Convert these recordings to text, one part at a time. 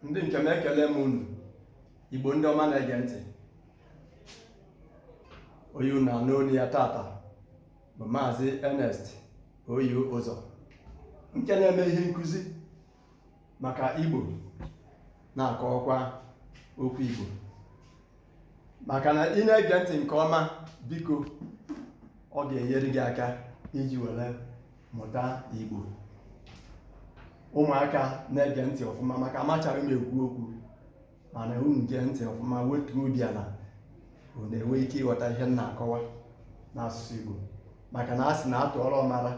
ndị nke m ekelee m unu igbo ndị ọma na-ege ntị onye unu na-anụ olu ya tata bụ maazị Ernest oyi ụzọ nke na-eme ihe nkụzi maka igbo na-akọwakwa okwu igbo maka na ị na-ege ntị nke ọma biko ọ ga-enyere gị aka iji were mụta igbo ụmụaka na-ege ntị ọfụma maka amachara m ekwu okwu mana unu gee ntị ọfụma wetuo obi ala unu enwe ike ịghọta ihe m na-akọwa n'asụsụ igbo maka na a sị na a tụọrọ ọmara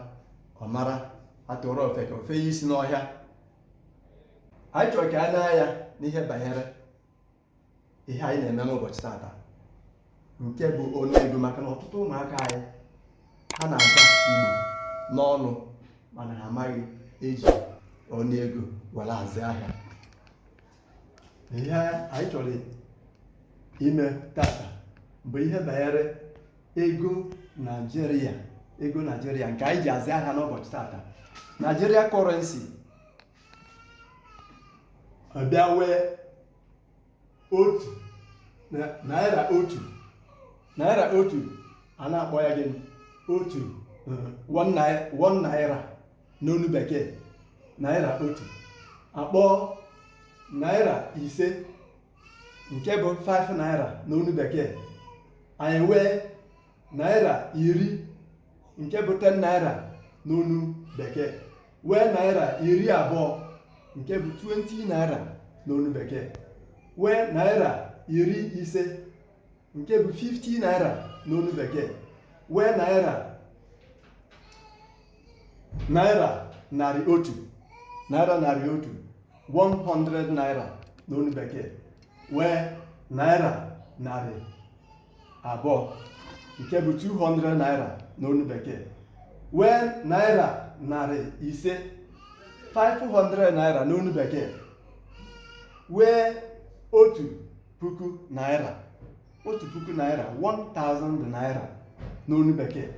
ọ mara a tụọrọ ofeke o fenye isi n'ọhịa anyị chọrọ ka e nee anya n'ihe banyere ihe anyị na-eme n'ụbọchị tata nke bụ ọnụ ego maka na ọtụtụ ụmụaka anyị ha na-aza igbo n'ọnụ mana ha amaghị eji ọnụ ego were azụ ahịa ihe anyị chọrọ ime tata bụ ihe banyere ego naijiria ego naijiria nke anyị ji azụ ahịa n'ụbọchị tata naijiria currency a bịa wee otu naira otu naira otu a na-akpọ ya gịnị otu one naira n'onu bekee naira otu a kpọọ naira ise nke bụ 5 naira n'onu bekee anyị wee naira iri nke bụ 10 naira n'onu bekee wee naira iri abụọ nke bụ 20 naira n'onu bekee wee naira iri ise nke bụ 50 naira n'onu bekee wee naira naira narị otu naira narị otu 100 naira n'onu bekee wee naira narị abụọ nke bụ 200 naira n'onu bekee wee naira narị ise 500 naira n'onu bekee wee otu puku naira otu puku naira 1000 naira n'onu bekee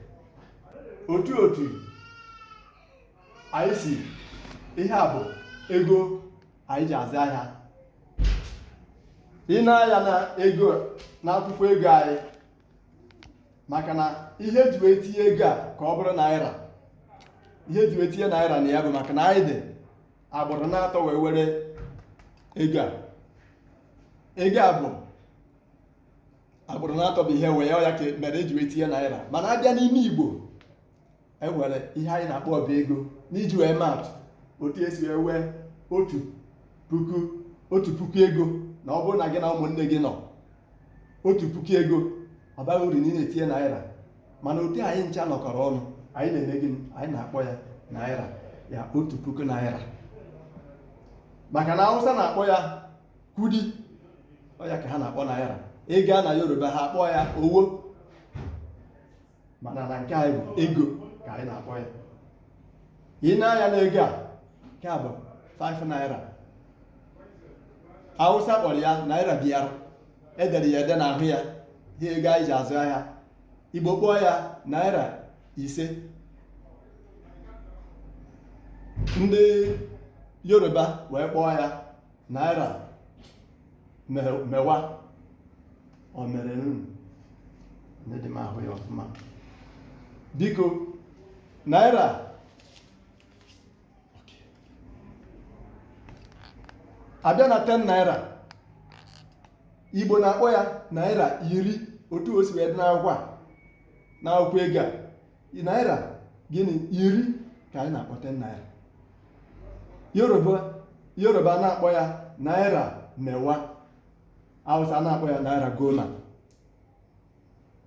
otu otu anyị si ihe a bụ ego anyị ji azụ ahịa i nee anya na ego na akwụkwọ ego anyị maka na ihe e ji wee tinye ego a ka ọ bụrụ naira ihe e ji wee tinye naira na ya bụ maka na anyị dị agbụrụ n'atọ wee were ego a ego a bụ agbụrụ n'atọ bụ ihe wee ya ka mere e ji wee tinye naira mana a bịa n'ime igbo e nwere ihe anyị na-akpọ ọba ego n'iji wee maatụ otu esi wee wee otu puku otu puku ego na ọ bụrụ na gị na ụmụnne gị nọ otu puku ego ọ baghị uru na ị na-etinye naira mana otu anyị ncha nọkọrọ ọnụ anyị na-eme gịnị anyị na-akpọ ya naira ya otu puku naira maka na awụsa na-akpọ ya kudi ọ ya ka ha na-akpọ naira ị gaa na yoruba ha akpọ ya owo mana na nke anyị bụ ego ka anyị na-akpọ ya i nee anya n'ego a nke a bụ 5 naira awụsa kpọrọ ya naira biyar e dere ya ede n'ahụ ya ihe ego anyị ji azụ ahịa igbo kpọọ ya naira ise ndị yoruba wee kpọọ ya naira me- mewa ọ marun adịghị m ahụ ya ọfụma biko naira a bịa na 10 naira igbo na-akpọ ya naira iri otu o si wee dị n'akwụkwọ a n'akwụkwọ ego a naira gịnị iri ka anyị na-akpọ 10 naira yoruba yoruba na-akpọ ya naira mewa hausa na-akpọ ya naira goma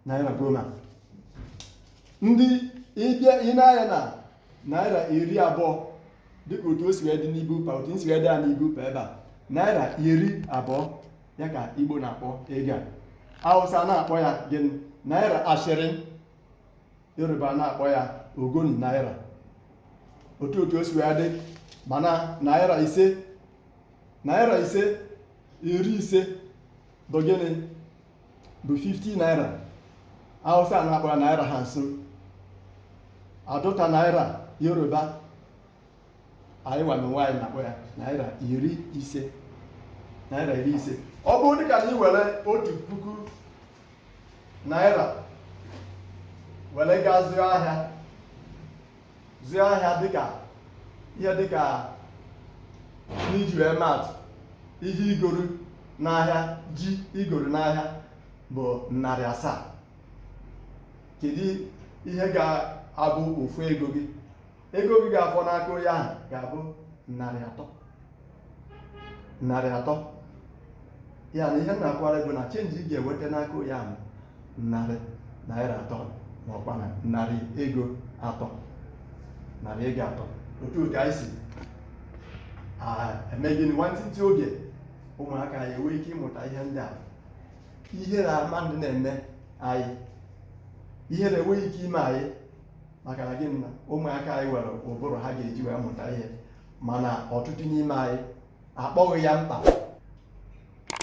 naira goma ndị ị bịa i nee anya na naira iri abụọ dịka otu o si wee dị na paper otu o si wee dị ya na paper ebe a naira iri abụọ ya ka igbo na-akpọ ego a hausa na-akpọ ya gịnị naira ashirin yoruba na-akpọ ya ogun naira otu otu o si wee dị mana naira ise naira ise iri ise bụ gịnị bụ 50 naira hausa na-akpọ ya naira hamsin aadota naira yoruba anyị nwa n'onwe anyị na-akpọ ya naira iri ise naira iri ise ọ bụrụ dịka na ị were otu puku naira were gaa zụọ ahịa zụọ ahịa dịka ihe dịka n'iji wee maatụ ihe i goro n'ahịa ji i goro n'ahịa bụ narị asaa kedu ihe ga-abụ ofu ego gị ego gị ga-afọ n'aka onye ahụ ga-abụ narị atọ narị atọ ya na ihe m na-akọwara gị bụ na change ị ga-enweta n'aka onye ahụ narị naira atọ ma ọkwa na narị ego atọ narị ego atọ otu otu anyị si a- eme gịnị nwantịntị oge ụmụaka anyị enwee ike ịmụta ihe ndị a ihere mmadụ na-eme anyị ihere enweghị ike ime anyị maka na gịnị na ụmụaka anyị nwere ụbụrụ ha ga-eji wee mụta ihe mana ọtụtụ n'ime anyị akpọghị ya mkpa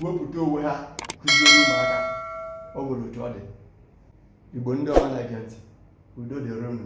wepụta onwe ha kụziere ụmụaka ọ nwere otu ọ dị igbo ndị ọma na-ege ntị udo dịrị unu